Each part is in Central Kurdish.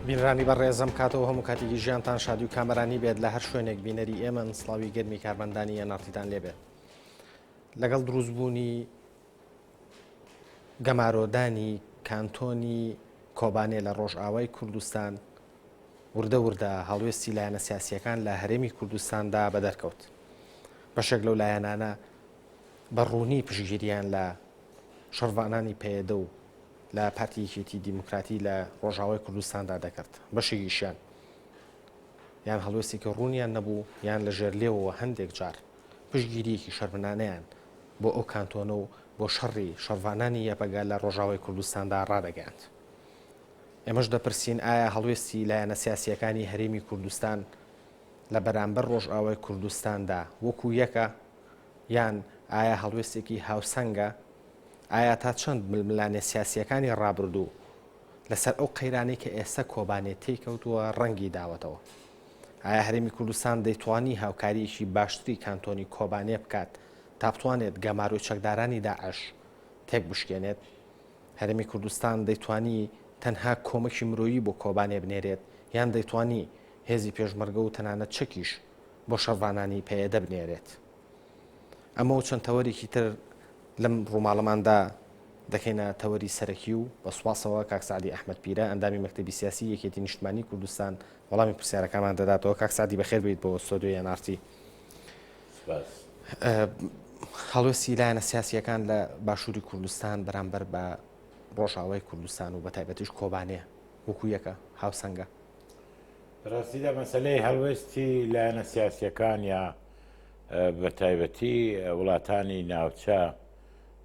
بینرانی بە ڕێزم کاتەوە هەموو کاتێکی ژیانتان شادی و کامەرانی بێت لە هەر شوێنێک بینەری ئێمە سڵاوی گەرمی کارمەندانی ئەناتیدان لێبێت لەگەڵ دروستبوونی گەمارۆدانی کانتۆنی کۆبانێ لە ڕۆژئاوای کوردستان وردە وردە هەڵوێستی لایەنە سیاسییەکان لە هەرێمی کوردستاندا بەدەرکەوت بەشێک لەو لایەنانە بە ڕوونی پشگیریان لە شەڕڤانانی پەیەدە و لە پارتیەکێتی دیموکراتی لە ڕۆژاوای کوردستاندا دەکرد بەشێکیشیان یان هەڵوێستێکی ڕوونیان نەبوو یان لە ژێر لێەوە هەندێک جار پشگیریەکی شەرمنانیان بۆ ئەو کانتۆنە و بۆ شەڕی شەڕڤانانی یەپەگە لە ڕۆژاوای کوردستاندا ڕادەگەیاند. ئێمەش دەپرسین ئایا هەڵوێستی لایەنە سیاسییەکانی هەرێمی کوردستان لە بەرامبەر ڕۆژئاوای کوردستاندا وەکو یەکە؟ یان ئایا هەڵوێستێکی هاوسەنگە؟ ئایا تا چەند ململانێ سیاسییەکانی ڕابردوو لەسەر ئەو قەیرانەی کە ئێستا کۆبانێ تێی کەوتووە ڕەنگی داوەتەوە؟ ئایا هەرێمی کوردستان دەیتوانی هاوکارییەکی باشتری کانتۆنی کۆبانێ بکات تا بتوانێت گەمارۆی چەکدارانی داعش تێک بشکێنێت هەرێمی کوردستان دەیتوانی تەنها کۆمەکی مرۆیی بۆ کۆبانێ بنێرێت یان دەیتوانی هێزی پێشمەرگە و تەنانەت چەکیش بۆ شەڕڤانانی پەیەدە بنێرێت ئەمە و چەند تەوەرێکی تر لەم ڕووماڵەماندا دەکەینە تەوەری سەرەکی و بە سوپاسەوە کاک سەعدی ئەحمەد پیرە ئەندامی مەکتەبی سیاسی یەکێتی نیشتمانی کوردستان وەڵامی پرسیارەکانمان دەداتەوە کاک سەعدی بەخێر بێیت بۆ ستۆدیۆی ئێنارتی هەڵوێستی لایەنە سیاسیەکان لە باشووری کوردستان بەرامبەر بە ڕۆژاوای کوردستان و بە تایبەتیش کۆبانێ وەکو یەکە هاوسەنگە ڕاستیدا مەسلەی هەڵوێستی لایەنە سیاسیەکان یا بەتایبەتی وڵاتانی ناوچە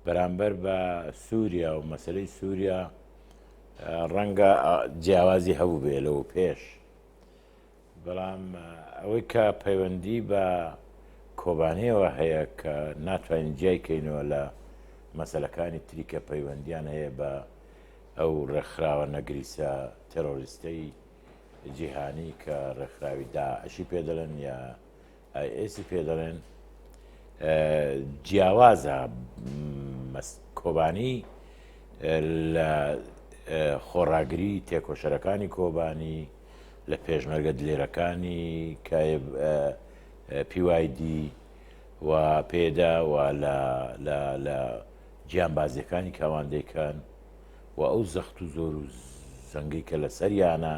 بەرامبەر بە سووریا و مەسلەی سووریا ڕەنگە جیاوازی هەبووبێ لەوە پێش بەڵام ئەوەی کە پەیوەندی بە کۆبانەوە هەیە کە ناتوانین جیای کەینەوە لە مەسلەکانی تریکە پەیوەندیان هەیە بە ئەو ڕێکخراوە نەگریسە تەرۆریستەی جیهانی کە ڕێکخراوی داعشی پێدەڵێن یا ئێسی پێ دەڵێن جیاوازە کۆبانی لە خۆڕاگری تێکۆشەرەکانی کۆبانی لە پێشمەرگە دلێرەکانی پیوایدی و پێدا و لە گیانبازیەکانی کاواندەکەن و ئەو زەخت و زۆر و زەنگی کە لە سەریانە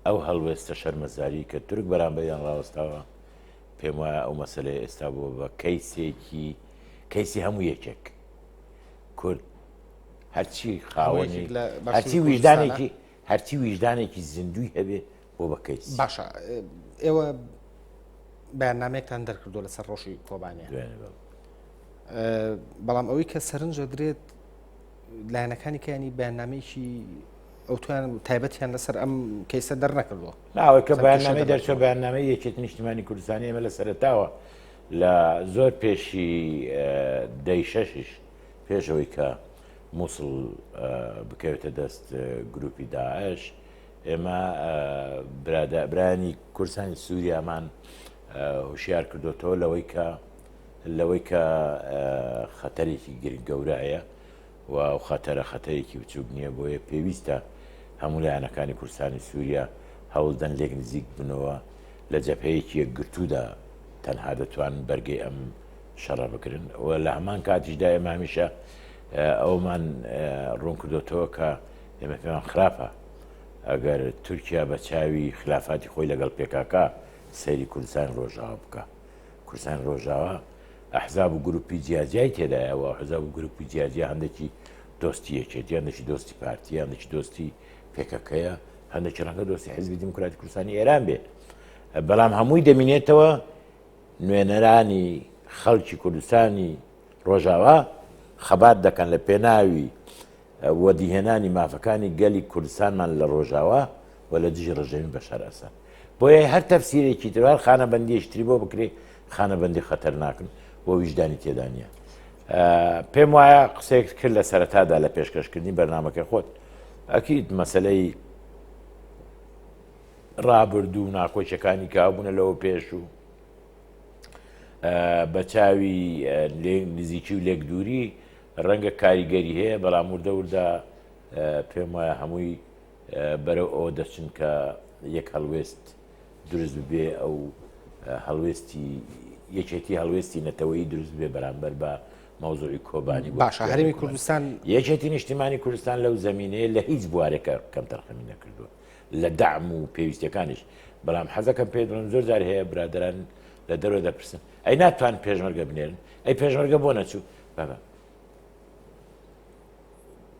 ئەو هەڵوێستە شەرمەزاری کە تورک بەرامبەریان ڕاوەستاوە پێم وایە ئەو مەسلەی ئێستا بووە بە کەیسێکی کەیسی هەموو یەکێک کورد هەرچی خاوەنی هەرچی ویژدانێکی هەرچی ویژدانێکی زیندوی هەبێ بۆ بە کەیس باشە ئێوە بەیاننامێکتان دەرکردو لەسەر ڕۆژی کۆبانێ بەڵام ئەوەی کە سەرنجە درێت لایەنەکانی کەیانی بەیاننامەیەکی ئەوتویان تایبەتیان لەسەر ئەم کەیسە دەرنەکردووە ناوەی کە بەیاننامەی دەرچە بەیاننامەی یەکێت نیشتمانی کوردستانی ئێمە لە سەرتاوە لە زۆر پێشی دەی شەشیش پێشەوەی کە مووسڵ بکەوێتە دەست گروپی داعش ئێمە برادابرانی کورسانی سووریامان هوشیار کردوتەوە لەوەی کە لەوەی کە خەتەرێکی گرنگ گەورە هەیە و ئەو خەتەرە خەتەرێکی بچووک نییە بۆیە پێویستە هەموو لایەنەکانی کوردستانی سووریا هەوڵدەن لێک نزیک بنەوە لە جەپەیەکی یەکگرتوودا تەنها دەتوان بەرگەی ئەم شەڕە بگرن و لە هەمان کاتیشدا ئێمە هەمیشە ئەومان ڕوون کردوتەوە کە ئێمە پێمان خراپە ئەگەر تورکیا بە چاوی خلافاتی خۆی لەگەڵ پێکاکە سەیری کوردستان ڕۆژاوە بکە کوردستانی ڕۆژاوا ئەحزاب و گروپی جیاجیای تێدایە و ئەحزاب و گروپی جیاجیا هەندێکی دۆستی یەکێتی، هەندێکی دۆستی پارتییە، هەندێکی دۆستی پێکەکەیە، هەندێکی ڕەنگە دۆستی حیزبی دیموکراتی کوردستانی ئێران بێ. بەڵام هەمووی دەمینێتەوە نوێنەرانی خەڵکی کوردستانی ڕۆژاوا خەبات دەکەن لە پێناوی وەدیهێنانی مافەکانی گەلی کوردستانمان لە ڕۆژاوا و لە دژی ڕژێمی بەشار ئەسەد. بۆیە هەر تەفسیرێکی تر و هەر خانەبەندییەکی تری بۆ بکرێ، خانەبەندی خەتەرناکن و ویژدانی تێدا نییە. پێم وایە قسەیەکت کرد لە سەرەتادا لە پێشکەشکردنی بەرنامەکەی خۆت، ئەکید مەسەلەی ڕابردوو و ناکۆکییەکانی کە هەبوونە لەوە پێش و بە چاوی نزیکی و لێکدووری رەنگە کاریگەری هەیە بەڵام وردە وردە پێم وایە هەمووی بەرەو ئەوە دەچن کە یەک هەڵوێست دروست ببێ ئەو هەڵوێستی یەکێتی هەڵوێستی نەتەوەی دروست بێ بەرامبەر بە مەوزوعی کۆبانی باشە هەرمی کوردستان یەکێتی نیشتیمانی کوردستان لەو زمینەیە لە هیچ بوارێکە کەم تەرخەمی نەکردووە لە دام و پێویستەکانیش بەڵام حەزەکەم پێ دڵم زۆر جار هەیە برادران لە دەرەوە دەپرسن ئەی ناتوان پێشمەرگە بنێرن ئەی پێشمەرگە بۆ نەچوو بەبە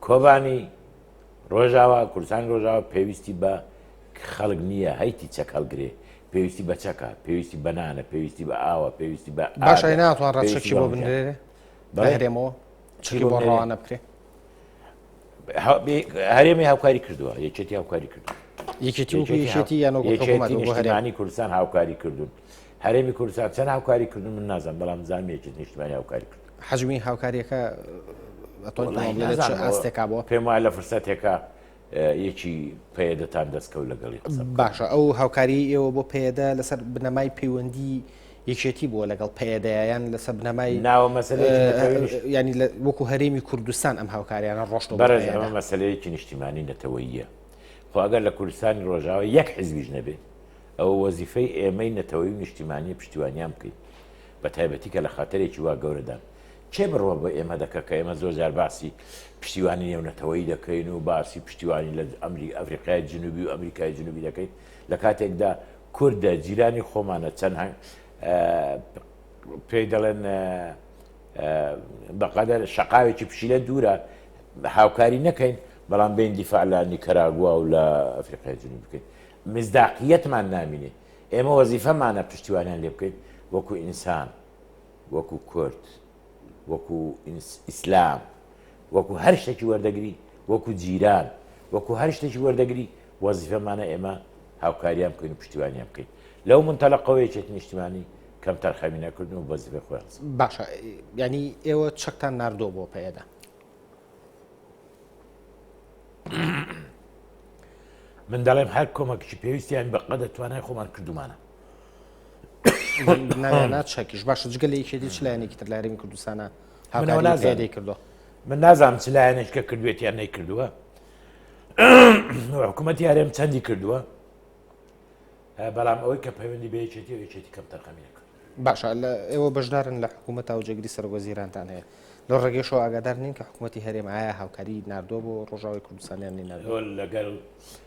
کۆبانی ڕۆژاوا کوردستانی ڕۆژاوا پێویستی بە خەڵک نییە هەیتی چەک هەڵگرێ پێویستی بە چەکە پێویستی بەنانە پێویستی بە ئاوە پێویستی بە باشای ناتوان ڕەچەکی بۆ بنرێ بەهرێمەوە چی بۆ ڕوانە بکرێ هەرێمی هاوکاری کردووە یەکێتی هاوکاری کردو یەکێتیانی کوردستان هاوکاری کردوون هەرێمی کوردستان چەند هاوکاری کردو من نازم بەڵام زانام یەکێت نیشتمانی هاوکاری کرد حجمی هاوکاریەکە ئاستێکا بۆ پێم وایە لە فرسەتێکە یەکی پەیەدەتان دەستکەوت لەگەڵی قسە بکەن. باشە ئەو هاوکاریی ئێوە بۆ پەیەدە لەسەر بنەمای پەیوەندی یەکێتی بووە لەگەڵ پەیەدەیە یان لەسەر بنەمای ناوە مەسەلەیەکی نەتەوەیش یانی لە- وەکو هەرێمی کوردستان ئەم هاوکاریانە ڕۆشتەوە بۆ بەڕێز پەیەدە. ئەمە مەسەلەیەکی نیشتیمانی نەتەوەییە خۆ ئەگەر لە کوردستانی ڕۆژاوا یەک حزبیش نەبێ ئەوە وەزیفەی ئێمەی نەتەوەیی و نیشتیمانیە پشتیوانیان بکەین بە تایبەتی کە لە خەتەرێکی وا گەورەدان کێ بڕوا بە ئێمە دەکا کە ئێمە زۆر جار باسی پشتیوانی نێونەتەوەیی دەکەین و باسی پشتیوانی لە ئەمری ئەفریقای جنوبی و ئەمریکای جنوبی دەکەین لە کاتێکدا کوردە جیرانی خۆمانە چەند هەنگ پێی دەڵێن بەقەدەر شقاوێکی پشیلە دوورە هاوکاری نەکەین بەڵام بین دیفاع لە نیکەراگووا و لە ئەفریقای جنوب بکەین مزداقیەتمان نامینێ ئێمە وەزیفەمانە پشتیوانیان لێ بکەین وەکو ئینسان وەکو کورد وەکو ئیسلام وەکو هەر شتێکی وەردەگری وەکو جیران وەکو هەر شتێکی وەردەگری وەزیفەمانە ئێمە هاوکاریان بکەین و پشتیوانیان بکەین لەو منتەلقەوەیەکێت نیشتمانی کەم تەرخەمی نەکردن و بەزیفە خۆیان باشە ینی ئێوە چەکتان نردۆ بۆ پەیەدا من دەڵێم هەر کۆمەکیی پێویستیان بە قەدە توانای خۆمان کردومانە نایانا چەکیش باشە جگە لە یەکێتی چ لایەنێکی تر لە هەرێمی کوردستانە هاوناوە هاوکاری زیادەی نازانم. کردو من نازانم چ لایەنێکە کردوێتیان نەیکردووە حکوومەتی هەرێم چەندی کردووە بەڵام ئەوەی کە پەیوەندی بە یەکێتی و یەکێتی کەم تەرخەمی نەکرد باشە لە ئێوە بەشدارن لە حکوومەت و جێگری سەر وەزیرانتان هەیە لە ڕێگەشەوە ئاگادار نین کە حکوومەتی هەرێم ئایا هاوکاری نردۆ بۆ ڕۆژاوی کوردستانیان نینەوە تۆ لەگەڵ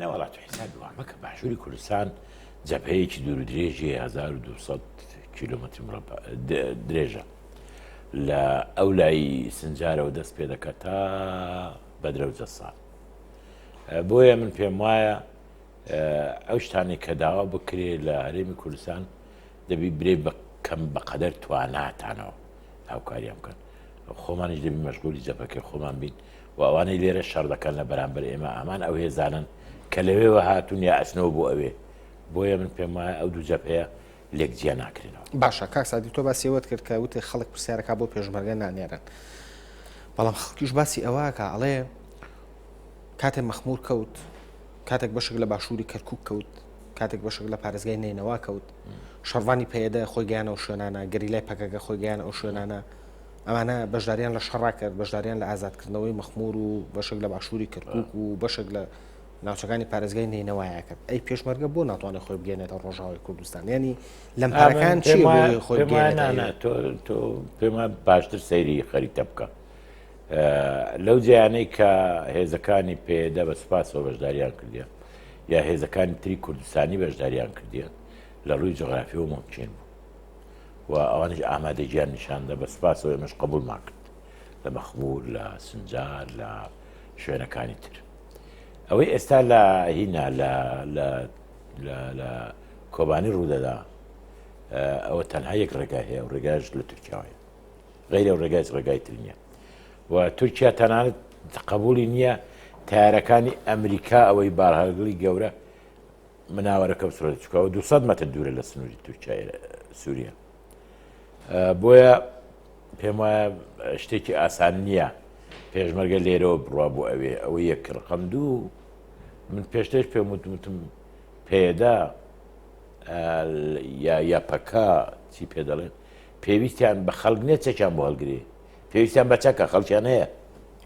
نەوەڵا تۆ حیسابی وا مەکە باشووری کوردستان جەبهەیەکی دوور و درێژی 1200 کیلومتر مربع د- درێژە لە ئەو لای سنجارەوە دەست پێ دەکات تا بەدرە و جەسان ئە، بۆیە من پێم وایە ئە، ئەو شتانێک کە داوا بکرێ لە هەرێمی کوردستان دەبی برێ بە کەم بەقەدەر تواناتانەوە هاوکاریان بکەن خۆمانیش دەبی مەشغولی جەبهەکەی خۆمان بین و ئەوانەی لێرە شەڕ دەکەن لە بەرامبەر ئێمە هەمان ئەو هێزانەن کە لەوێوە هاتوون یا ئەچنەوە بۆ ئەوێ بۆیە من پێم وایە ئەو دوو جەبهەیە لێک جیا ناکرێنەوە باشە کاک سادی تۆ باسی ئەوەت کرد کە وتێ خەڵک پرسیارەکە بۆ پێشمەرگە نانێرن بەڵام خەڵکیش باسی ئەوەکە ئەڵێ کاتێ مەخمور کەوت کاتێک بەشک لە باشووری کەرکک کەوت کاتێک بەشک لە پارێزگای نینەوە کەوت شەڕوانی پەیەدە خۆی گیانەوە شوێنانە گەری لای پەکەکە خۆی گیان ئەو شوێنانە ئەمانە بەشداریان لە شەڕا کرد، بەشداریان لە ئازادکردنەوەی مەخموور و بەشێک لە باشووری کەرکووک و بەشێک لە ناوچەکانی پارێزگای نەینەوایا کرد ئەی پێشمەرگە بۆ ناتوانێت خۆی بگەێنێتە ڕۆژاوی کوردستان ینی لەم پارەکان چی خۆی تۆ پێمە باشتر سەیری خەریتە بکە لەو جیانەی کە هێزەکانی پێدا بە سپاسەوە بەشداریان کردە یا هێزەکانی تری کوردستانی بەشداریان کردە لە ڕووی جغرافی و ممکن بوو و ئەوانیش ئامادە گیان نیشاندە بە سپاسەوە ئێمەش قبولمان کرد لە مەخمور لە سنجار لە شوێنەکانی تر ئەوەی ئێستا لە هینا لە کۆبانی ڕوودەدا ئەوە تەنها یەک ڕێگای هەیە و ڕێگاش لە تورکیاوەیە غیرە و ڕێگای ڕێگای تر نییە و تورکیا تەنانەت قبولی نییە تارەکانی ئەمریکا ئەوەی بارهەگڵی گەورە مناوەرەکە بسڕێت چکەوە 200 مەتر دوورە لە سنووری تورکای سووریە بۆیە پێم وایە شتێکی ئاسان نییە پێشمەرگە لێرەوە بڕوا بۆ ئەوێ ئەوە یەک ڕقم دوو من پێشتش پێم وتمتم پێدا یا یاپەکە چی پێ دەڵێن پێویستیان بە خەڵک نێت چەکیان بۆ هەڵگرێ پێویستیان بە چەکە خەڵکیان هەیە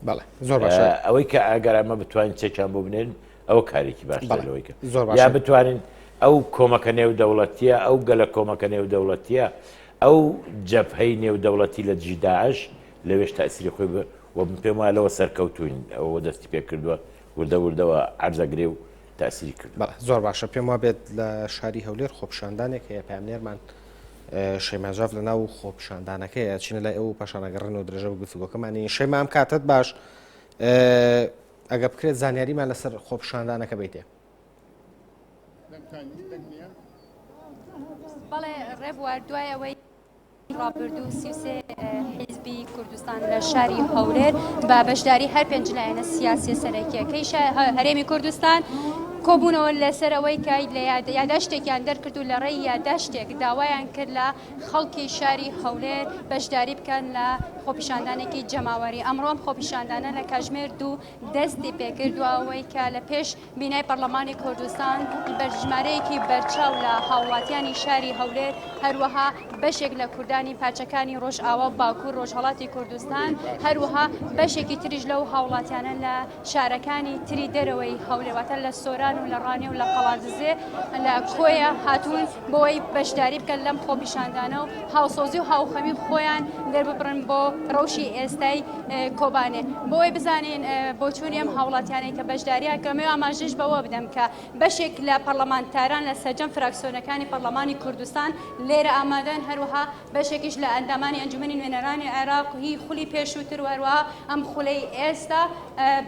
بەڵێ زۆر باشە ئەوەی کە ئەگەر ئەمە بتوانین چەکیان بۆ بنێن ئەوە کارێکی باشتر لەوەی کە زۆر یا بتوانین ئەو کۆمەکە نێو دەوڵەتیە ئەو گەلە کۆمەکە نێو دەوڵەتیە ئەو جەبهەی نێو دەوڵەتی لە دژی داعش لەوێش تاسیری خۆی و من پێم وایە لەوە سەرکەوتوین ئەوە دەستی پێ کردووە وردە وردەوە عرزەگرێ و تاسیری کرد زۆر باشە پێم وا بێت لە شاری هەولێر خۆپشاندانێک هەیە پامنێرمان شەیماژاف لە ناو خۆپشاندانەکەیە چینە لای ئەو پاشانەگەڕن و درێژە بە گفتوگۆکەمانی شەیمام کاتت باش ئەگەر بکرێت زانیاریمان لەسەر خۆپشاندانەکە بیتێ. بەڵێ ڕێبوار دوای ئەوەی ڕابردوو سیوسێ حیزبی کوردستان لە شاری هەولێر بە بەشداری هەر پێنج لایەنە سیاسی سەرەکیەکەی هەرێمی کوردستان کۆبوونەوە لەسەرەوەی کای لە یاداشتێکیان دەرکرد و لە ڕێی یاداشتێک داوایان کرد لە خەڵکی شاری هەولێر بەشداری بکەن لە خۆپیشاندانێکی جەماوەری ئەمڕۆ ئەم خۆپیشاندانە لە کاژمێر دوو دەستی پێکردووە ئەوەی کە لە پێش بینای پەرلەمانی کوردستان بەرژمارەیەکی بەرچاو لە هاوڵاتیانی شاری هەولێر هەروەها بەشێک لە کوردانی پارچەکانی ڕۆژئاوا باکوور ڕۆژهەڵاتی کوردستان هەروەها بەشێکی تریش لەو هاوڵاتیانە لە شارەکانی تری دەرەوەی هەولێر واتە لە سۆران و لە ڕانیە و لە قەڵادزێ لە کۆیە هاتوون بۆی بەشداری بکەن لەم خۆپیشاندانە و هاوسۆزی و هاوخەمی خۆیان دەرببڕن بۆ ڕەوشی ئێستای کۆبانێ بۆی بزانین بۆچوونی ئەم هاوڵاتیانەی کە بەشداریان کەمێ ئاماژەش بەوە بدەم کە بەشێک لە پەرلەمانتاران لە سەرجەم فراکسیۆنەکانی پەرلەمانی کوردستان لێرە ئامادەن هەروەها بەشێکیش لە ئەندامانی ئەنجومەنی نوێنەرانی عێراق هی خولی پێشووتر و هەروەها ئەم خولەی ئێستا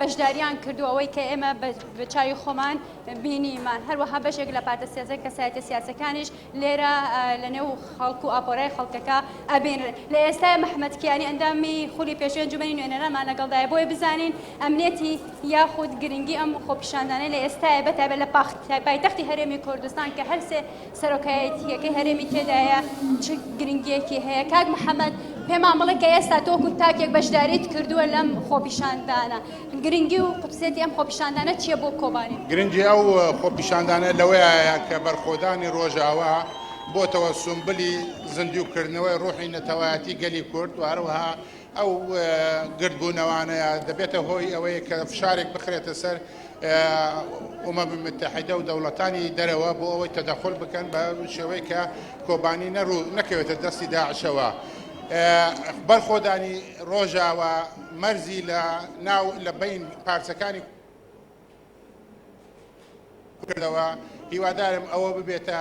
بەشداریان کردو ئەوەی کە ئێمە بە چاوی خۆمان بینیمان هەروەها بەشێک لە پارتە سیاسە کەسایەتە سیاسەکانیش لێرە لە نێو خەڵک و ئاپۆرای خەڵکەکە ئەبینن لە ئێستای محمد کیانی ئەندامی خولی پێشوی ئەنجومەنی نوێنەرانمان لەگەڵدای بۆی بزانین ئەمنێتی یاخود گرنگی ئەم خۆپیشاندانەی لە ئێستای بەتابێت لە پاخت پایتەختی هەرێمی کوردستان کە هەرسێ سەرۆکایەتییەکەی هەرێمی تێدایە چ گرنگییەکی هەیە؟ کاک محەمەد پێمان بڵێ کە ئێستا تۆکو تاکێک بەشداریت کردووە لەم خۆپیشاندانە گرنگی و قوتسێتی ئەم خۆپیشاندانە چییە بۆ کۆبانێ؟ گرنگی ئەو خۆپیشاندانە لەوەیە کە بەرخۆدانی ڕۆژاوا بۆتەوە سومبلی زیندووکردنەوەی ڕوحی نەتەوایەتی گەلی کورد و هەروەها ئەو گردبوونەوانەیە دەبێتە هۆی ئەوەی کە فشارێک بخرێتە سەر ئومەم متحیدە و دەوڵەتانی دەرەوە بۆ ئەوەی تەدەخول بکەن بە شێوەی کە کۆبانی نەڕوو نەکەوێتە دەستی داعشەوە بەرخۆدانی ڕۆژاوە مەرزی لە ناو لە بین پارچەکانی کردەوە هیوادارم ئەوە ببێتە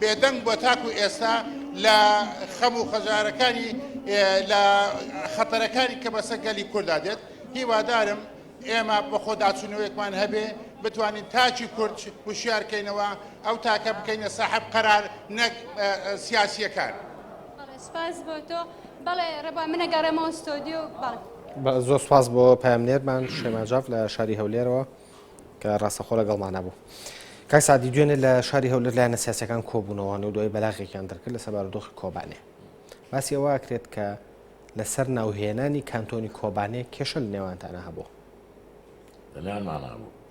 بێدەنگ بووە تاکو ئێستا لە خەم و خەژارەکانی لە خەتەرەکانی کە بەسەر گەلی کوردا دێت هیوادارم ئێمە بەخۆداچوونەوەیەکمان هەبێ بتوانین تاکی کورد وشیار کەینەوە ئەو تاکە بکەینە ساحب قەرار نەک سیاسیەکان سپاس بۆ تۆ بەڵێ ڕێبا منەگەڕێمەوە ستۆدیو بەڵێ زۆر سپاس بۆ پامنێرمان شێماجاف لە شاری هەولێرەوە کە ڕاستەخۆ لەگەڵمان نەبوو. کاک سەعدی دوێنێ لە شاری هەولێر لایەنە سیاسیەکان کۆبوونەوە و دوای بەلاغێکیان دەرکرد لەسەر بارودۆخی کۆبانێ. باسی ئەوە ئەکرێت کە لەسەر ناوهێنانی کانتۆنی کۆبانێ کێشە لە نێوانتانە هەبوو.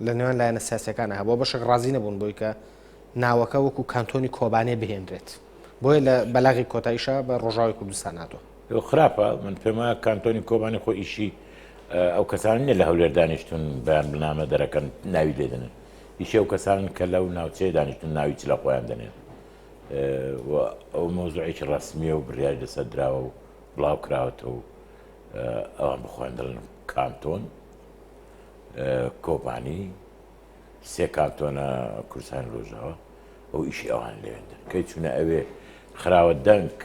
لە نێوان لایەنە سیاسەکانە هەبوو بەشێک ڕازی نەبوون بۆی کە ناوەکە وەکو کانتۆنی کۆبانێ بهێنرێت. بۆیە لە بەلاغی کۆتاییشا بە ڕۆژاوی کوردستان هاتووە. ئەوە خراپە من پێم وایە کانتۆنی کۆبانی خۆ ئیشی ئەو کەسانی نیە لە هەولێر دانیشتون بەیان بنامە دەرەکەن ناوی لێدنن ئیشی ئەو کەسانن کە لەو ناوچەیە دانیشتون ناوی چ لە خۆیان دەنێن ئەو مۆزوعێکی ڕسمیە و بڕیاری لەسەر دراوە و بڵاو کراوەتەوە و ئەوان بخۆیان دەڵن کانتۆن کۆبانی سێ کانتۆنە کوردستانی ڕۆژاوا ئەو ئیشی ئەوان لەوێندر کەی چونە ئەوێ خراوە دەنگ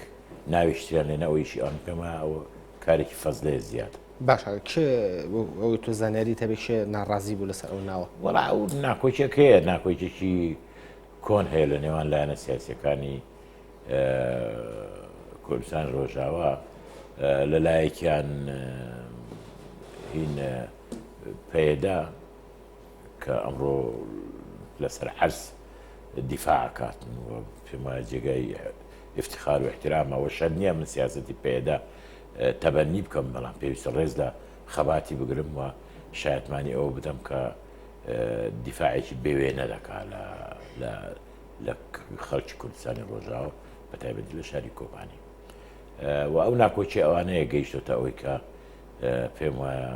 ناویشتیان لێنە ئەو ئیشی ئەوان کەمە ئەوە کارێکی فەزلەیە زیاد باش کێ ئەوەی تۆ زانیاری تەبێ کێ ناڕازی بوو لەسەر ئەو ناوە وەڵا ئەو ناکۆکێک هەیە ناکۆکێکی کۆن هەیە لە نێوان لایەنە سیاسەکانی کوردستان ڕۆژاوا لە لایەکیان هین پەیدا کە ئەمڕۆ لەسەر عەرز دیفاع ئەکاتن و پێم وایە جێگای ئیفتخار و ئیحترامە و شەرت نییە من سیاسەتی پەیەدە تەبەننی بکەم، بەڵام پێویستە ڕێز لە خەباتی بگرم و شایەتمانی ئەوە بدەم کە دیفاعێکی بێ وێنە دەکات لە خەڵکی کوردستانی ڕۆژاوا بەتایبەتی لە شاری کۆبانی و ئەو ناکۆکییە ئەوانەیە گەیشتووەتە ئەوەی کە پێم وایە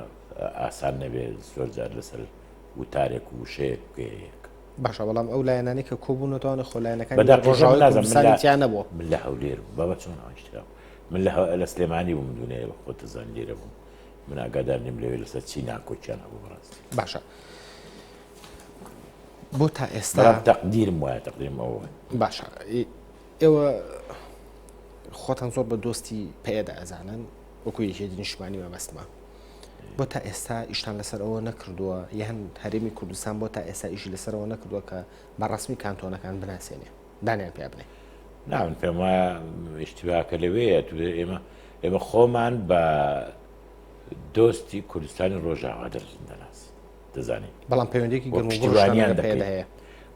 ئاسان نەبێ زۆر جار لەسەر وتارێک و وشەیەک بگەیەک باشە بەڵام ئەو لایەنانی کە کۆبوونەوەتوانە خۆ لایەنەکان ڕۆژاوازانیان نەبووە من لە هەولێر بابە چۆن ئاشترا من لە لە سلێمانی بووم دونێ بە خۆتە زان لێرە بووم من ئاگادار نیم لەوێ لەسەر چی ناکۆکیان هەبوو بەڕاست باشە بۆ تا ئێستا تەقدیرم وایە تەقدیم ئەوە باشە ئێوە خۆتان زۆر بە دۆستی پێدا ئەزانن وەکو یەکێتی نیشتمانی مەبەستمە بۆ تا ئێستا ئیشتان لەسەر ئەوە نەکردووە یان هەرێمی کوردستان بۆ تا ئێستا ئیشی لەسەرەوە نەکردووە کە بە ڕسمی کانتۆنەکان بناسێنێ دانیان پێ بنێ ناون پێم وایە ئیشتیباکە لەوەیە ئێمە ئێمە خۆمان بە دۆستی کوردستانی ڕۆژاوا دەرزن دەناس دەزانین بەڵام پەیوەندێکی گەرموانیان هەیە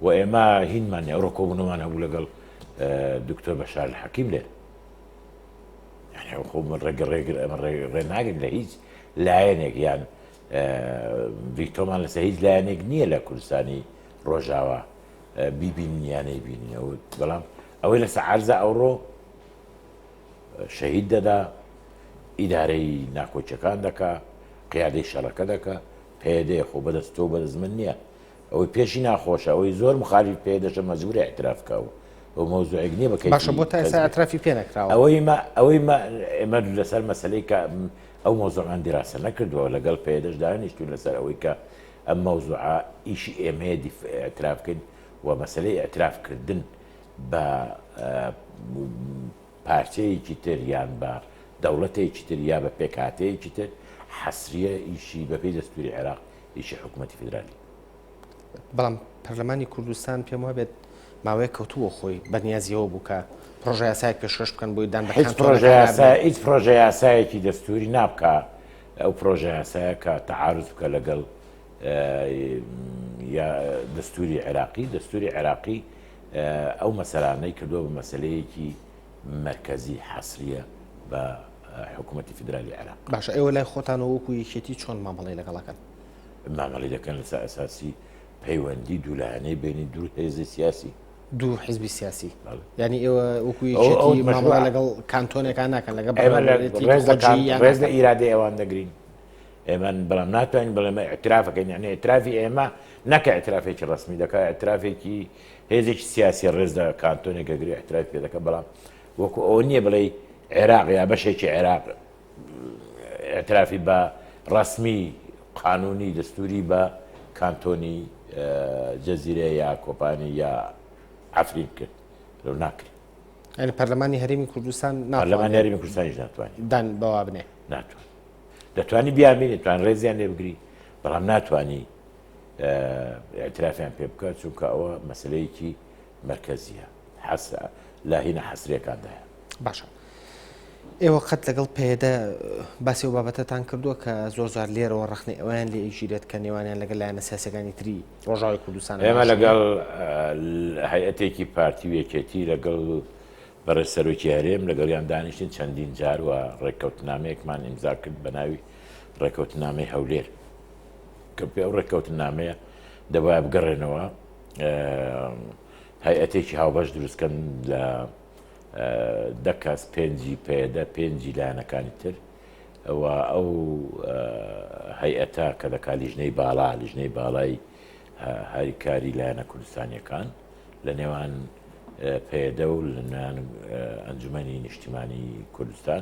و ئێمە هینمان ئەوڕۆکۆبوونەوەمان هەبوو لەگەڵ دکتۆر بەشار حەکیم لێ ڕێناگرێت لە هیچ لایەنێک یان ڤیتۆمان لەسەر هیچ لایەنێک نییە لە کوردستانی ڕۆژاوا بیبین یانەی بینەوە بەڵام ئەوەی لەسەر عرزە ئەوڕۆ شەهید دەدا ئیدارەی ناکۆچەکان دەکا قیادەی شەڕەکە دەکە پێدێ خۆ بەدەست تۆ بەرز من نییە ئەوەی پێشی ناخۆشە ئەوەی زۆر مخالیف پێ دەشە مەجبورە اعتراف کا و ئەو مەوزوعێک نییە بەکەی باشە بۆ تا ئێستا اعترافی پێ نەکراوە ئەوەی ما ئەوەی ما ئێمە لەسەر مەسلەی کە ئەو مەوزوعمان دیراسە نەکردووە لەگەڵ پێدەش دانیشتوین لەسەر ئەوەی کە ئەم مەوزوعە ئیشی ئێمەیە اعتراف بکەین و مەسلەی اعتراف کردن بە پارچەیەکی تر یان بە دەوڵەتێکی تر یا بە پێکهاتەیەکی تر حەسریە ئیشی بەپی دەستوری عێراق یەکی حکوومەتی فیدرالی. بەڵام پەرلەمانی کوردستان پێم وابێت ماوەیە کەوتووە خۆی بەنیازیەوە بوو کە پرۆژە یاسایەک پێشکەش بکەن بۆی دان هیچ پرۆژە یاسایەکی دەستوری نابکە ئەو پرۆژە یاسایە کە تەعاعرز بکە لەگەڵ دەستوری عێراقی دەستوری عێراقی ئەو مەسەرانەی کردووە بە مەسلەیەکی مەرکەزی حەسریە بە حکومەتی فیدرالی عێراق. باشە ئێوە لای خۆتانەوە وەکو یەکێتی چۆن مامەڵەی لەگەڵ ئەکەن؟ مامەڵەی دەکەن لەسەر ئەساسی پەیوەندی دوولایەنەی بینی دوو هێزی سیاسی. دوو حزبی سیاسی یعنی ئێوە وەکو یەکێتی مامەڵە لەگەڵ کانتۆنێکان ناکەن لەگەڵ ڕێز لە ئیرادە ئێوان دەگرین. ئێمە بەڵام ناتوانین بڵێمە ئەترافەکەین یعنی ئەترافی ئێمە نەکە ئەترافێکی ڕسمی دەکە ئەترافێکی هێزێکی سیاسی ڕێز لە کانتۆنێک ئەگرێ ئیحترامی پێ دەکەم، بەڵام وەکوو ئەوە نییە بڵێی عێراق یا بەشێکی عێراق ئیعترافی بە ڕەسمی قانوونی دەستووری بە کانتۆنی جەزیرە یا کۆپانی یا عەفرین کرد لەو ناکرێت. یعنی پەرلەمانی هەرێمی کوردستان ناتوانێت پەرلەمانی هەرێمی کوردستانیش ناتوانێت دان بەوا بنێ. ناتوانێت. دەتوانی بیانبینێت، توان ڕێزیان لێ بگری، بەڵام ناتوانی ئەترافیان پێ بکە چونکە ئەوە مەسلەیەکی مرکزیە حەسرە لا هینە حەسرەکاندایە باشە. ئێوە قەت لەگەڵ پێدە باسی و بابەتەتان کردووە کە زۆر زار لێرەوە ڕخنی ئەویان لە ئیژیرێت کە نێوانیان لەگەل لایەنە سیاسەکانی تری ڕۆژاوی کوردستان ئێمە لەگەڵ هەیەتێکی پارتی و یەکێتی لەگەڵ بەڕێ سەرۆکی هەرێم لەگەڵیان دانیشتین چەندین جار و ڕێککەوتنامەیەکمان ئیمزا کرد بە ناوی ڕێککەوتنامەی هەولێر کە پێ ئەو ڕێککەوتنامەیە دەبایە بگەڕێنەوە هەیئەتێکی هاوبەش دروستکەن لە دەکەس پێنجی پێدە پێنجی لایەنەکانی تر ئەوە ئەو هەیئەتا کە دەکات لیژنەی باڵا لیژنەی باڵای هەریکاری لایەنە کوردستانیەکان لە نێوان پێدە و لەنان ئەنجومی نیشتیمانی کوردستان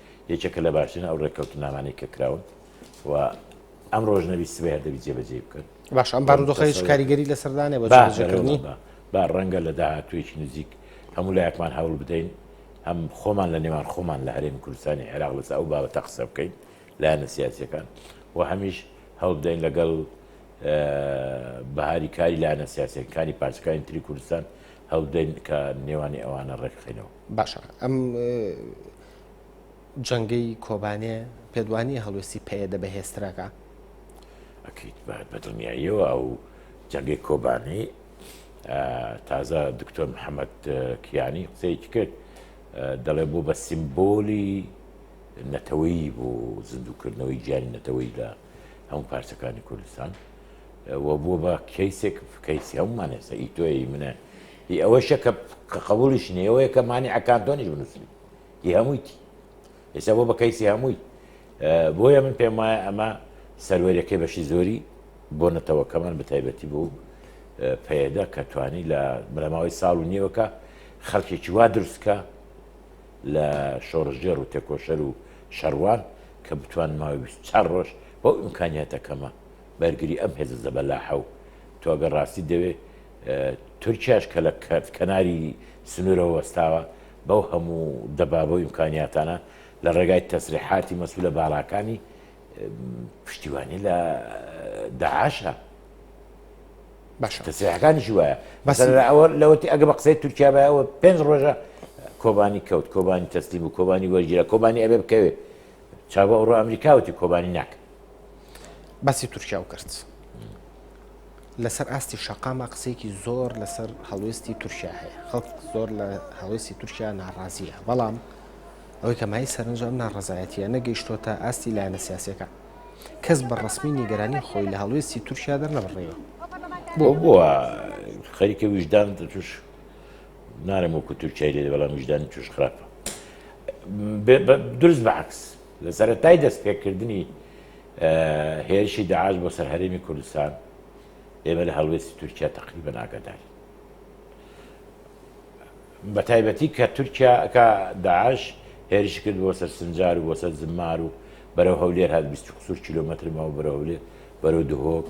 یەکێکە لە باشترین ئەو ڕێککەوتننامانەی کە کراون و ئەمڕۆژ نەبی سبەی هەر دەبی جێبەجێ بکەن باش ئەم بارودۆخە هیچ کاریگەری لەسەردانێ بە با جێبەجێکردنی بەرەوە با با ڕەنگە لە داهاتوویەکی نزیک هەموو لایەکمان هەوڵ بدەین هەم خۆمان لە نێوان خۆمان لە هەرێمی کوردستانی عێراق لەسەر ئەو بابەتە قسە بکەین لایەنە سیاسیەکان و هەمیش هەوڵ بدەین لەگەڵ بەهاری کاری لایەنە سیاسەکانی پارچەکانی تری کوردستان هەڵدەین کە نێوانی ئەوانە ڕێکخینەوە باشە ئەم جەنگەی کۆبانێ پێت وانیە هەڵوێستی پەیەدە بەهێزترەکە؟ ئەکید بەدڵنیاییەوە ئەو جەنگەی کۆبانێ تازە دکتۆر محەممەد کیانی قسەیەکی کرد دەڵێ بۆ بە سیمبۆلی نەتەوەی بۆ زیندووکردنەوەی گیانی نەتەوەی لە هەموو پارچەکانی کوردستان و بووە بە کەیسێک کەیسی هەمومان هێستا ئی تۆی منە هی ئەوەشە کە قەبولیش نیەوەیە کە مانی ئەکانتۆنیش بنووسیت ی هەموویتی ئێستا بۆ بە کەیسی هەمووی بۆیە من پێم وایە ئەمە سەروەرەکەی بەشی زۆری بۆ نەتەوەکەمان بەتایبەتی بوو پەیەدە کە توانی لە بنەماوەی ساڵ و نیوەکە خەڵکێکی وا دروستکە لە شۆڕژێر و تێکۆشەر و شەڕوان کە بتوان ماوەی 24 ڕۆژ بۆ ئیمکانیاتەکەمە بەرگری ئەم هێزە زەبەلاحە و تۆگە ڕاستی دەوێ تورکیاش کە لە کەناری سنوورەوە وەستاوە بەو هەموو دەبابە و ئیمکانیاتانە لە ڕێگای تەسریحاتی مەسولە باڵاکانی پشتیوانی لە داعاشە. تەسریحەکانیشی وایە بەسەر ئەوە لەوەتی ئەگە بە قسەی تورکیا بایەوە پێنج ڕۆژە کۆبانی کەوت کۆبانی تەسلیم و کۆبانی وەرگیرە کۆبانی ئەبێ بکەوێت چاوە ئەوڕۆ ئەمریکا وتی کۆبانی ناکە باسی تورکیا و کرد لەسەر ئاستی شەقامە قسێکی زۆر لەسەر هەڵوێستی تورکیا هەیە خەڵک زۆر لە هەڵوێستی تورکیا ناڕازیە بەڵام ئەوەی کە مای سەرنجام ناڕزایەتە نەگەیشتۆ تا ئاستی لایەنە سیاسەکە کەس بە ڕسمی نیگەرانی خۆی لە هەڵوێستی تورکیا دەرنەبڕێەوە بۆ بووە خەریکە ویژدان توش نارم وەکو تورکای لێ بەڵام ویژدانی توش خراپە دروست بە عەکس لە سەرەتای دەست پێکردنی هێرشی داعش بۆ سەر هەرێمی کوردستان ئێمە لە هەڵوێستی تورکیا تقریبا ناگەداری بە تایبەتی کە تورکیا کە داعش هێرش کرد بۆ سەر سنجار و بۆ سەر زمار و بەرەو هەولێر هات 20 قسوور کیلومترمەوە بەرە هەولێر بەرەو دهۆک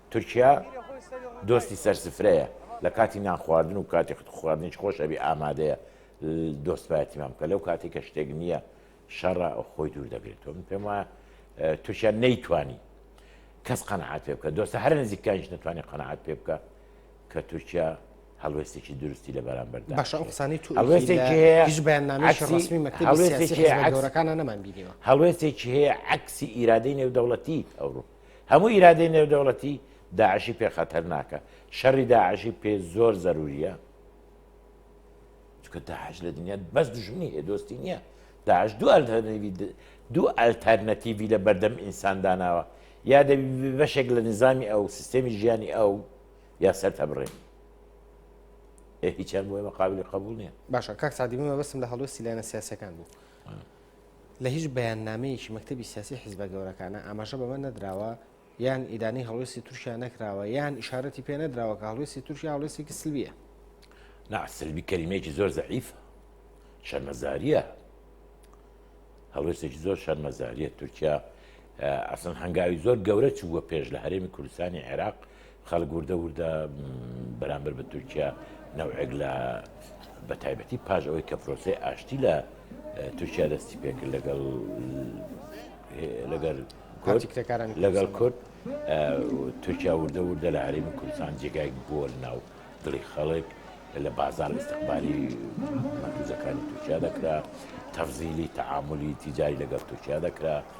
تورکیا دۆستی سەر سفرەیە لە کاتی نانخواردن و کاتی خواردنیش خۆش ئەبی ئامادەیە دۆستپاتیمان بکە لەو کاتی کە شتێک نییە شەڕە ئەو خۆی دوور دەگرێتەوە من پێم وایە تورکیا نەیتوانی کەس قەنەعات پێ بکە دۆستە هەر نزیکانیش نتوانانی قەنەعات پێ بکە کە تورکیا هەڵوێستێکی دروستی لە بەرامبەر باشە ئەو قسانی تو بەیاننامەکانە نەمان بینیوە هەڵوێستێکی هەیە عکسی ئیرادەی نێودەوڵەتی ئەوروپا هەموو ئیرادەی نێودەوڵەتی داعشی پێ خەتەر ناکە شەڕی داعشی پێ زۆر زەروریە چکە داعش لە دنیا بەس دژمنی هەیە دۆستی نییە داعش دوو ئەلتەرنیوی دوو ئەلتەرنەتیوی لە بەردەم ئینسان داناوە یا دەبی بەشێک لە نظامی ئەو سیستەمی ژیانی ئەو یا سەر تەبڕێن هیچیان بۆی مەقابلی قبول نیە باشە کاک سادیمە بەسم لە هەڵوێستی لایەنە سیاسەکان بوو لە هیچ بەیاننامەیەکی مەکتەبی سیاسی حیزبە گەورەکانە ئاماژە بەمە نەدراوە یان ئیدانەی هەڵوێستی تورکیا نەکراوە یان ئیشارەتی پێ نەدراوە کە هەڵوێستی تورکیا هەڵوێستێکی سلبییە نا سلبی کەلیمەیەکی زۆر زەعیفە شەرمەزاریە هەڵوێستێکی زۆر شەرمەزاریە تورکیا ئەسن هەنگاوی زۆر گەورە چووە پێش لە هەرێمی کوردستانی عێراق خەڵک وردە وردە بەرامبەر بە تورکیا نەوعێک لە بە تایبەتی پاش ئەوەی کە پرۆسی ئاشتی لە تورکیا دەستی پێکرد لەگەڵ لەگەر کارتیکتەکاران لەگەڵ کورد تورکیا وردە وردە لە هەرێمی کوردستان جێگای بۆ ناو دڵی خەڵک لە بازار استقبالی مەکوزەکانی تورکیا دەکرا تەفزیلی تعاملی تیجاری لەگەڵ تورکیا دەکرا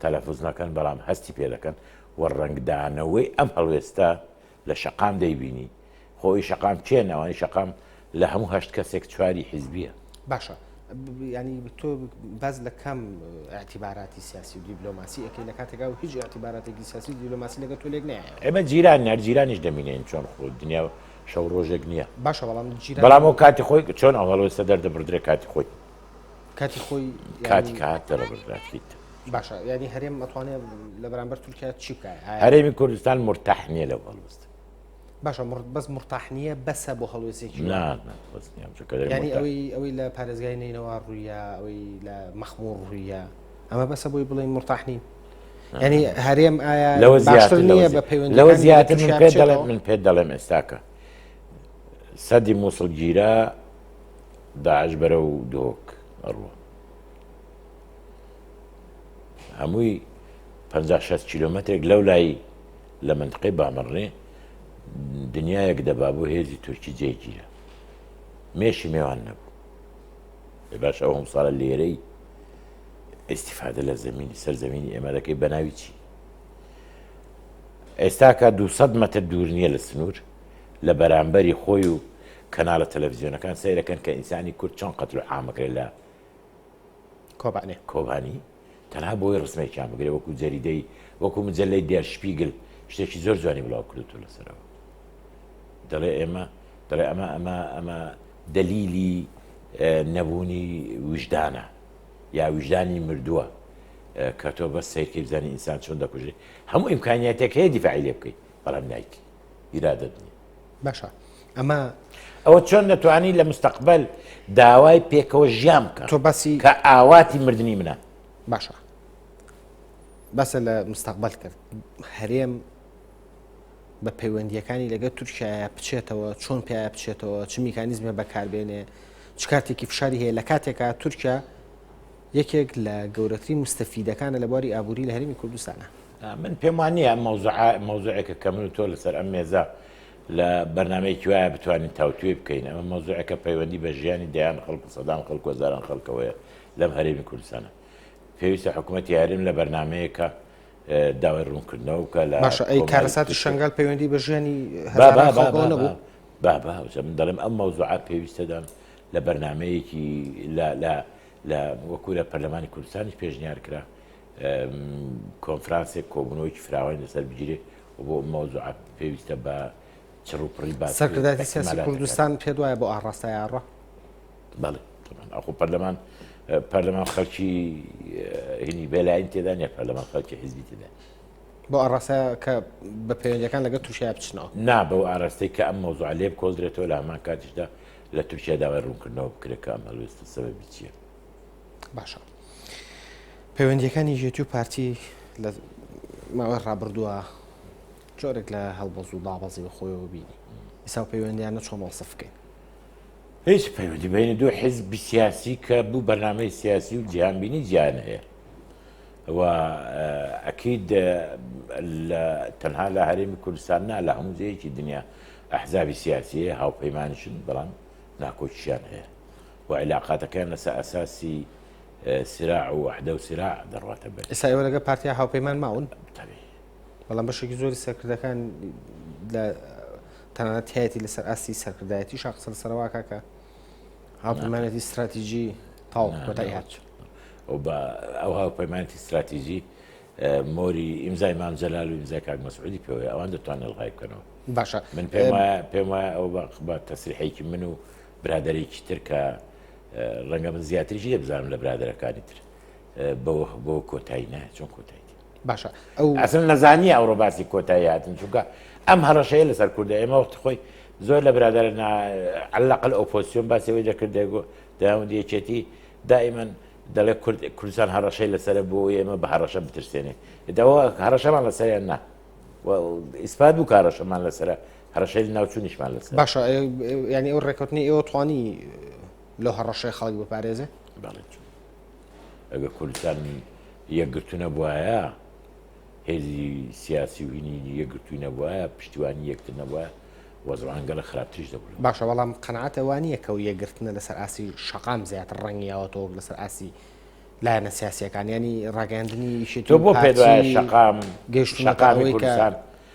تەلەفوز نەکەن بەڵام هەستی پێ دەکەن و ڕەنگدانەوەی ئەم هەڵوێستە لە شەقام دەیبینی، خۆ ی شەقام کێن ئەوانەی شەقام لە هەموو هەشت کەسێک چواری حیزبیە. باشە یانی تۆ باس لە کام ئەتیباراتی سیاسی و دیبلۆماسی ئەەکەی لە کاتێکا و هیچ ئەتیباراتێکی سیاسی دیلۆماسی لەگە تۆ لێک نایە ئێمە جیران نەر جیرانیش دەمینین چۆن خۆ دنیا شەو ڕۆژێک نییە باشە بەڵام بەڵام و کاتی خۆی چۆن ئەوڵۆسە دەردەبدرێ کاتی خۆی کاتی خۆی کاتی کە هات دەرەبردرات بیت باشە یعنی هەرێم ئەتوانێت لە بەرامبەر تورکیا چی بکات هەرێمی کوردستان مرتاح نییە لە هەڵوست باشە بەس مرتاح نییە بەسە بۆ هەڵوێستێکی ینی ئەوەی ئەوەی لە پارێزگای نینەوە ڕوویە ئەوەی لە مەخمور ڕوویە ئەمە بەسە بۆی بڵێن مرتاح نین ینی هەرێم ئایا لەوە زیاتر نییە بە پەیوەند لەوە زیاتر من پێ دەڵێم من پێ دەڵێم ئێستاکە سەدی مووسڵگیرە داعش بەرەو دهۆک ئەڕوا هەمووی پ کیلومترێک لەو لای لە منتقەی بامەڕێ دنیایەک دەبا بۆ هێزی تورکی جێگیرە مێشی نێوان نەبوو باش ئەو هەم ساڵە لێرەی ئیسیفادە لە زمینی سەر زمینی ئێمە دەکەی بەناوی چی ئێستاکە 200 مەتر دوور نییە لە سنوور لە بەرامبەری خۆی و کەناڵە تەلەفزیۆنەکان سەیرەکەن کە ئینسانی کورد چۆن قەتل و عام ئەکرێت لە کۆبانێ کۆبانی تەنها بۆی ڕسمێکیان بگرێ وەکو جەریدەی وەکو مجللەی دێر شپیگل شتێکی زۆر جوانی بڵاو کردوت و لەسەرەوە دەڵێ ئێمە دەڵێ ئەمە ئەمە ئەمە دەلیلی نەبوونی وژدانە یا وژدانی مردووە کە تۆ بە سیرکەی بزانانی ئینسان چۆن دەکوژێت هەموو ئیمکانیاتێک هەیە دیفاعی لێ بکەیت بەڵام نایکی ئیرادەت نیە باشە ئەمە ئەوە چۆن دەتوانی لە مستەقبل داوای پێکەوە ژیان بکە تۆ باسی کە ئاواتی مردنی منە باشە بەسە لە مستەقبل کرد هەرێم بە پەیوەندیەکانی لەگە تورکایە بچێتەوە چۆن پێ بچێتەوە چ میکانیزمە بەکاربێنێ چ کاتێکی فشاری هەیە لە کاتێکا تورکیا یەکێک لە گەورەترین مستەفیدەکانە لە بواری ئابووری لە هەرمی کوردستانە من پێم وا نییە ئەم مەوزوعە مەوزوعێکە کە من و تۆ لەسەر ئەم مێزە لە بەرنمەیەکی وایە بتوانین تاوتوێ بکەین ئەمە مەوزوعەکە پەیوەندی بە ژیانی دەیان خەڵک سەدان خەڵک وەزاران خەڵکەوەیە لەم هەرێمی کوردستانە پێویستە حکوومەت یارم لە بەرنمەیەکە داوای ڕوونکردنەوە بکە لە باشە ئەی کارەساتی شنگال پەیوەندی بە ژیانی نەبوو با با من دەڵێم ئەم مەوزوعە پێویستەدان لە بەرنمەیەکی لە لە لە وەکوورە پەرلەمانی کوردستانیش پێشنیار کرا کۆنفرانسێک کۆبوونەوەیکی فراوانی لەسەر بگیرێت و بۆ مەوزوعە پێویستە بە چڕوپڕی باس سەرکردایەتی سیاسی کوردستان پێ وایە بۆ ئاڕاستای ئاڕا بەڵێ ئەخۆ پەرلەمان پەرلەمان خەڵکی هینی بێلاین تێدا نیە پەرلەمان خەڵکی حیزبی تێدا بۆ ئاڕاستە کە بە پەیوەندەکان لەگە تووشیا بچنەوە نا بەو ئاراستەی کە ئەم مۆزوع لێ کۆڵدرێتەوە لە هەمان کاتیشدا لە تورکیا داوای ڕوونکردنەوە بکرێت کە ئەم هەلوێستە سەبەبی چییە باشە پەیوەندیەکانی یەکێتی و پارتی لە ماوەی ڕابردووە جۆرێک لە هەڵبەز و دابەزی بە خۆیەوە بینی ئیسا پەیوەندیانە چۆن وەڵسە بکەین هیچ پەیوەندی بینی دوو حزب سیاسی کە بوو بەنامەی سیاسی و جیهانبینی جیان هەیە و ئەکید تەنها لە هەرێمی کوردستان نا لە هەموو جەیەکی دنیا ئەحزابی سیاسیە هاوپەیمانشن بەڵام ناکۆکیشیان هەیە و عیلاقاتەکەیان لەسەر ئەساسی سراع و وەحدە و سراع دەڕواتە بەر. ئێستا ئێوە لەگەڵ پارتیا هاوپەیمان ماون؟ تەبیعی. بەڵام بەشێکی زۆری سەرکردەکان لە تەنانەت تایەتی لەسەر ئاستی سەرکردایەتی شا قسە لەسەرەوە ئاکا کە هاوپەیمانێتی ستراتیژی تاو کۆتایی هات. و بە ئەو هاوپەیمانێتی ستراتیژی مۆری ئیمزای مام جەلال و ئیمزای کاک مەسعودی پێوەیە ئەوان دەتوانن ئەلغای بکەنەوە. باشە. من پێم وایە پێم وایە ئەو بە تەسریحێکی من و برادەرێکی تر کە ڕەنگە من زیاتریش لێ بزانم لە برادەرەکانی تر بەوە بۆ کۆتایی نایە چۆن کۆتایی باشە ئەو ئەسن نەزانانی ئەوڕۆ باسی کۆتایی هاتن چونکە ئەم هەڕەشەیە لەسەر کوردە ئێمە وەخت خۆی زۆر لە برادر علاقل ئۆپۆسیۆن باسەوەی دەکردێک و داوند یەکێتی دائیمەن دەڵێ کوردستان هەڕەشەی لەسەر بۆ ئێمە بە هەڕەشە بترسێنێ داوە هەڕەشەمان لەسەریان نا ئیسپات بوو کارەشەمان لەسرە هەڕەشەی ناوچونیشمان لەس باشە ینی ئەو ڕێکوتنی ئێوە توانی لە هەڕەشەی خەڵک بپارێزێ بەڵێت ئەگە کوردستان یەکگرتونە بواە هێزی سیاسی و هینی یەکگرتووی نەبووە پشتیوانی یەکتر نەبووە وەزڕانگەلە خراپتریش دەبوو باشە بەڵام قەنعاتەوانیە کە و یەکگرتنە لەسەر ئاسی شقام زیاتر ڕەنگیاوە تۆک لەسەر ئاسی لایەنە سیاسەکانیانی ڕاگەاندنی شێت بۆ پێ شقام گەشتەکانەوەی کوردستان.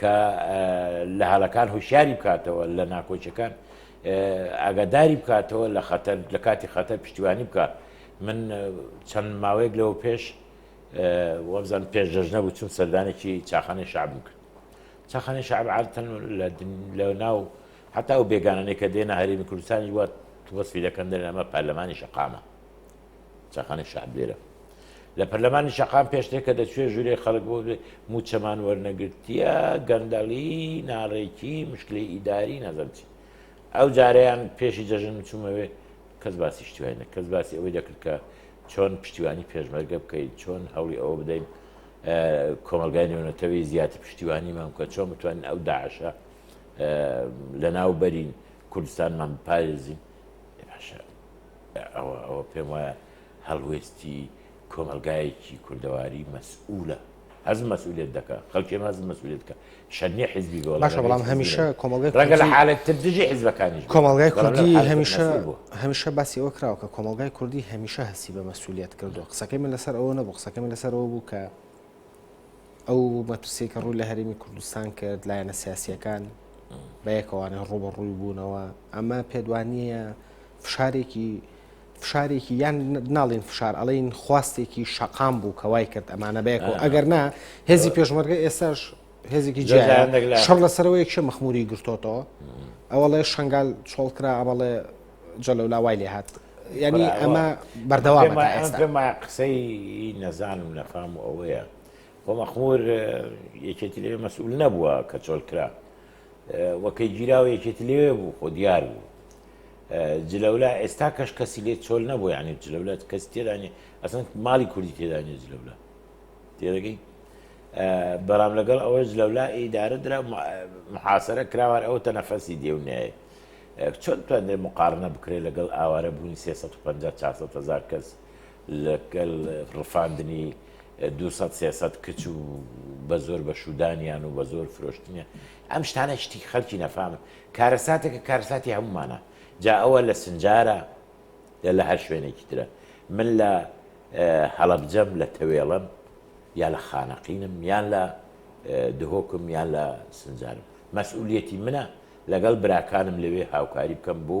کە لە هەلەکان هوشیاری بکاتەوە لە ناکۆچەکان ئاگاداری بکاتەوە لە خەتەر لە کاتی خەتەر پشتیوانی بکات من چەند ماوەیەک لەوە پێش وەبزان پێش دەژنە بوو چون سەردانێکی چاخانەی شعب بکرد چاخانەی شعب عادتەن لە ناو حتا ئەو بێگانانێکە دێنە هەرێمی کوردستانی وە وەسفی دەکەن دەرنامە پەرلەمانی شقامە چاخانەی شەعب لێرە لە پەرلەمانی شەقام پێشتر کە دەچێ ژورێ خەڵک بۆ موچەمان وەرنەگرتیە گەندەڵی ناڕێکی مشکلی ئیداری نەزم چی ئەو جارەیان پێشی جەژن چوومەوێ کەس باسی شتیوانە کەس باسی ئەوەی دەکرد کە چۆن پشتیوانی پێشمەرگە بکەیت چۆن هەوڵی ئەوە بدەین کۆمەلگای نێونەتەوەی زیاتر پشتیوانیمان بکە چۆن بتوانین ئەو داعشە لە ناو بەرین کوردستانمان بپارێزین باشە ئەوە ئەوە پێم وایە هەڵوێستی کۆمەڵگایەکی کوردەواری مەسئولە. هەز مەسئولیت دەکە خەڵکێن هەز مەسئولیت کە شەنێ حزبی بۆ باشە بەڵام هەمیشە کۆمەڵگە ڕگە لە حالت تر دژی حزبەکانی کۆمەڵگای کوردی هەمیشە هەمیشە باسی ئەوە کراوە کە کۆمەڵگای کوردی هەمیشە هەستی بە مەسئولیت کردو قسەکەی من لەسەر ئەوە نەبوو قسەکەی من لەسەر ئەوە بوو کە ئەو مەترسی کە ڕووی لە هەرمی کوردستان کرد لایەنە سیاسیەکان بەیەکەوانە ڕوبەڕووی بوونەوە ئەمە پێدوانیە فشارێکی فشارێکی یان ناڵین فشار ئەڵین خواستێکی شقام بوو کە وای کرد ئەمانە بەیەکەوە ئەگەر نا هێزی پێشمەرگە ئێساش هێزێکی جیان شەڕ لەسەرەوە یەکشە مەخموری گرتۆتەوە ئەوڵێ شنگال چۆڵکرا ئەمەڵێ جەلەولا وای لێ هات ینی ئەمە بەردەوام پێما قسەی نەزانم نەفام و ئەوەیە خۆ مەخمور یەکێتی لێ مەسئول نەبووە کە چۆلکرا و کەی گیراوە یەکێتی لەوێ بوو خۆ دیار بوو جلەولا ئێستا کەش کەسی لێ چۆل نەبوو یعنی جلەولا کەس تێدانێ ئەسن ماڵی کوردی تێدانێ جلەولا تێدەگەی بەڵام لەگەڵ ئەوە جلەولا ئیدارە درا محاسرە کراوار ئەو تە نەفەسی دێونایە چۆن توانێت مقارنە بکرێت لەگەڵ ئاوارە بوونی 350 400 هزار کەس لەگەل ڕفاندنی دوو سەد سێ سەد کچ و بە زۆر بە شودانیان و بە زۆر فرۆشتنیان ئەم شتانە شتی خەلکی نەفامن کارەساتێکە کارساتی هەمومانە جا ئەوە لە سنجارە یا لە هەر شوێنێکی ترە من لە هەڵەبجەم لە تەوێڵم یا لە خانەقینم یان لە دهۆکم یان لە سنجارم مەسئولیەتی منە لەگەڵ براکانم لەوێ هاوکاری بکەم بۆ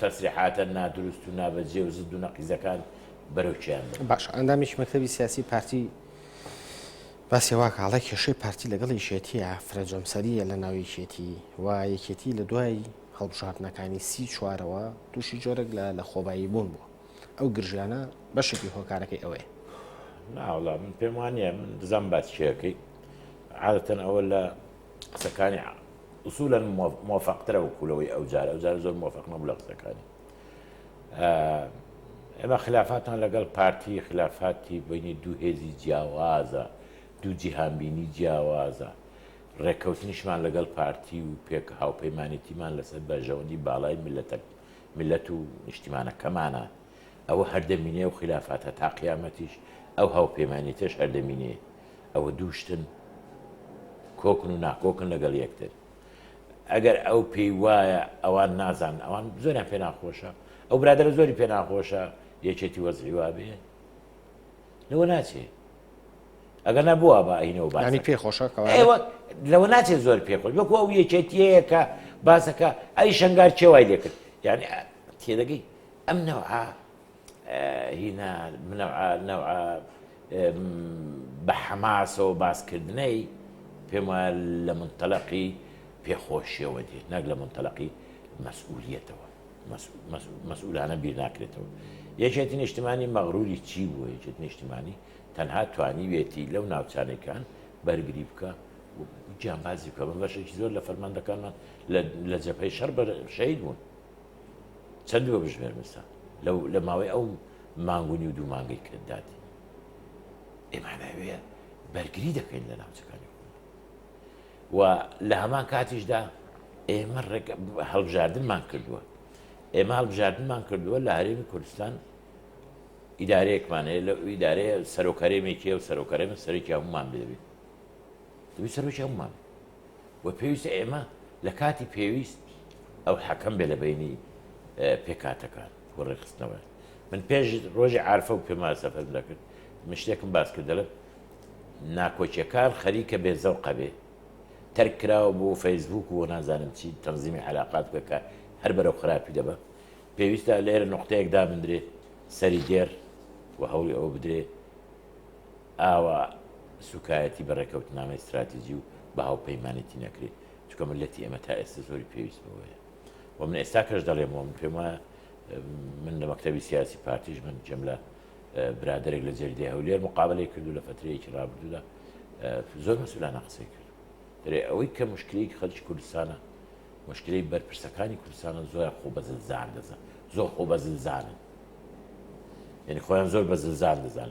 تەسریحاتە نادروست و نابەجێ و زد و نەقیزەکان بەرەو کێیان بەرن؟ باشە ئەندامێکی مەکتەبی سیاسی پارتی باسی وا کە هەڵە کێشەی پارتی لەگەڵ یەکێتیە فرە جەمسەریە لە ناو یەکێتی و یەکێتی لە دوای هەڵبژاردنەکانی سی چوارەوە تووشی جۆرەك لە لە خۆبایی بوون بوو ئەو گرژیانە بەشێکی هۆکارەکەی ئەوەیە ناوڵام پێم وانە من دزان باسکێەکەی عادەتەن ئەوە لە قسەکانی ئوسولەن مۆفەقترە وەکو لەوەی ئەو جار ئەو جار زۆر مۆفەق نەبوو لە قسەکانی ئێمە خلافاتان لەگەڵ پارتی خلافاتی بینی دوو هێزی جیاوازە دوو جیهانبینی جیاوازە ڕێککەوتنیشمان لەگەڵ پارتی و پێک هاوپەیمانێتیمان لەسەر بەژەوەندی باڵای ملەتە ملەت و نیشتیمانەکەمانە ئەوە هەردەمینێ و خلافاتە تا قیامەتیش ئەو هاوپەیمانێتش هەردەمینێ ئەوە دوو شتن کۆکن و ناکۆکن لەگەڵ یەکتر ئەگەر ئەو پێی وایە ئەوان نازان ئەوان زۆریان پێ ناخۆشە ئەو برادرە زۆری پێ ناخۆشە یەکێتی وەزعی وابێ لەوە ناچێ ئەگەر نەبووە بە ئەینەوە بانی پێ خۆشە لەوە ناچێت زۆر پێ خۆش وەکو ئەو یەکێتیەیە کە باسەکە ئەی شنگار چێوای لێکرد یعنی تێدەگەی ئەم نەوە هینا منەوعە نەوعە بە حەماسەوە باسکردنەی پێم وایە لە منتەلقی پێخۆشیەوە دێت نەک لە منتەلقی مەسئولیتەوە مەسئولانە بیر ناکرێتەوە یەکێتی نیشتمانی مەغروری چی بووە یەکێت نیشتمانی تەنها توانیوێتی لەو ناوچانەکان بەرگری بکە گیانبازی بکە بە بەشێکی زۆر لە فەرماندەکانمان لە جەپەی شەر بەر شەید بوون چەندی وەبژمێر مستان لەو لە ماوەی ئەو مانگ و نیو دوو مانگەی کە دادی ئێمانەوێ بەرگری دەکەین لە ناوچەکانی و لە هەمان کاتیشدا ئێمە ڕێک هەڵبژاردنمان کردووە ئێمە هەڵبژاردنمان کردووە لە هەرێمی کوردستان ئیدارەیەکمان هەیە لە ئیدارەیە سەرۆکەرێمێکی و سەرۆکەرێمە سەرێکی هەمومان بێبێت سەرۆکی هەمومان و پێویستە ئێمە لە کاتی پێویست ئەو حەکەم بێ لە بەینی پێکاتەکان و ڕێکخستنەوە من پێش ڕۆژی عرفە و پێما سەفەرم دەکرد من شتێکم باس کرد دەڵێم ناکۆکیەکان خەریکە بێ زەوقە بێ تەرک کراوە بۆ فەیسبوک و نازانم چی تەنزیمی علااقات بکە کە هەر بەرەو خراپی دەبە پێویستە لێرە نقطەیەک دابدرێت سەری دێر و هەوڵی ئەوە بدرێت ئاوا سوکایەتی بە ڕێکەوتنامەی ستراتیجی و بە هاوپەیمانێتی نەکرێت، چونکە میللەتی ئێمە تا ئێستا زۆری پێویست بەوەیە و من ئێستاکەش دەڵێم و من پێم وایە من لە مەکتەبی سیاسی پارتیش من جێم لە برادێک لە جەریدەی هەولێر مقابلەی کردو لە فترەیەکی ڕابردوودا زۆر مەسولانە قسەی کرد دەێ ئەوەی کە مشکلەی خەرج کوردستانە مشکلەی بەرپرسەکانی کوردستانە زۆر خۆ بەزلزان دەزان زۆر خۆ بەزلزانن یعنی خۆیان زۆر بەزلزان دەزان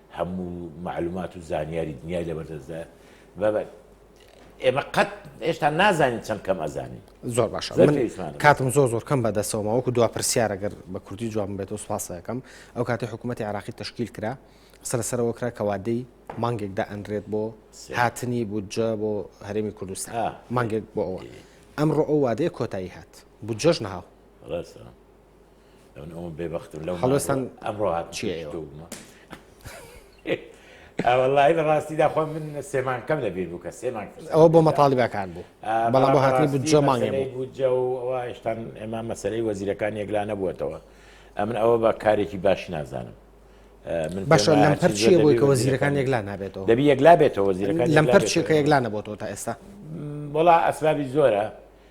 هەموو مەعلومات و زانیاری دنیای لەبەر دەستدایە بە بە ئێمە قەت هێشتا نازانین چەند کەم ئەزانین زۆر باشە زۆر من پێویستمانە. کاتم زۆر زۆر کەم بەدەستەوە ماوەکو دو پرسیارە گەر بە کوردی جوابم بێتەوە سوپاسەکەم ئەو کاتی حکوومەتتی عراقی تشکیل کرا قسە لەسەرەوە کرا کەوادەی مانگێک دائەنرێت بۆ سێ. هاتنی بودجە بۆ هەرێمی کوردستان آه. مانگێک بۆ ئەوە ئەمڕۆ ئەو وادەیە کۆتایی هات بودجەش ناو ڕاستە ئەوم بێبختم لەو هەڵستان ئەمڕۆ هات چێومە ئەوەڵی لە ڕاستیدا خۆ من سێمانکەم لە بیر بوو کە سێمان ئەوە بۆ مەتاالبەکان بوو بەڵام بۆ هاتنی بوو جەمانێ بوو جە و ئەوە هێشتان ئێمە مەسەرەی وەزیرەکان یەکلا نەبووەتەوە ئەمن ئەوە بە کارێکی باش نازانم بەشە لەم پەرچیە بۆی کە وەزیرەکان یەکلا نابێتەوە دەبی یەکلا بێتەوە وەزیرەکان لەم پەرچێکە یەکلا نەبووەوە تا ئێستا وڵا ئەسبابی زۆرە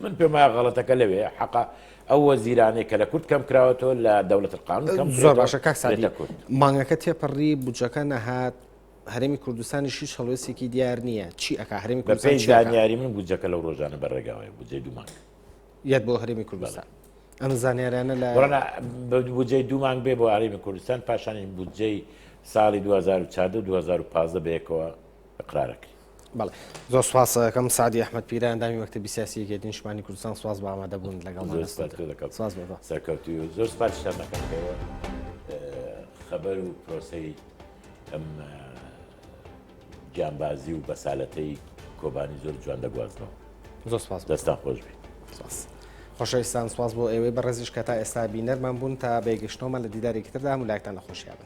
من پێم وایە غەڵەتەکە لەوێیە حەقە ئەو وەزیرانەی کە لە کورد کەم کراوەتەوە لە دەولەت قانون کەم زۆر باشە کاک سادی سادی کورد مانگەکە تێپەڕی بودجەکە نەهات هەرێمی کوردستانی شیش هەڵوێستێکی دیار نییە چی ئەک هەرێمی بە کوردستان پێی چی ئەکا؟ زانیاری من بودجەکە لەو ڕۆژانە بەڕێگاوەیە بودجەی دوو مانگ یەت بۆ هەرێمی کوردستان ئەم زانیارانە لە وەڵا بە بودجەی دوو مانگ بێ بۆ هەرێمی کوردستان پاشانی بودجەی ساڵی 2014 و 2015 بەیەکەوە اقرارەکەی بەڵێ زۆر سپاست دەکەم سعدی ئەحمەد پیرە ئەندامی مەکتەبی سیاسی یەکێتی نیشتمانی کوردستان سپاس بۆ ئامادەبوون لەگەڵ زۆر مانەستم سپاس پێ دەکەم سپاس بۆ بە سەرکەوتوی و زۆر سپاسشتان دەکەم بۆ ئه، خەبەر و پرۆسەی ئەم ئه، گیانبازی و بەسالەتەی کۆبانی زۆر جوان دەگوازنەوە زۆر سپاس بۆ دەستان خۆش بی. سپاس. خۆشەویستان سپاس بۆ ئێوەی بەڕێزیش کە تا ئێستا بینەرمان بوون تا بەیەگەشتنەوەمان لە دیدارێکی تردا هەموو لایەکتان لە خۆشیا بن.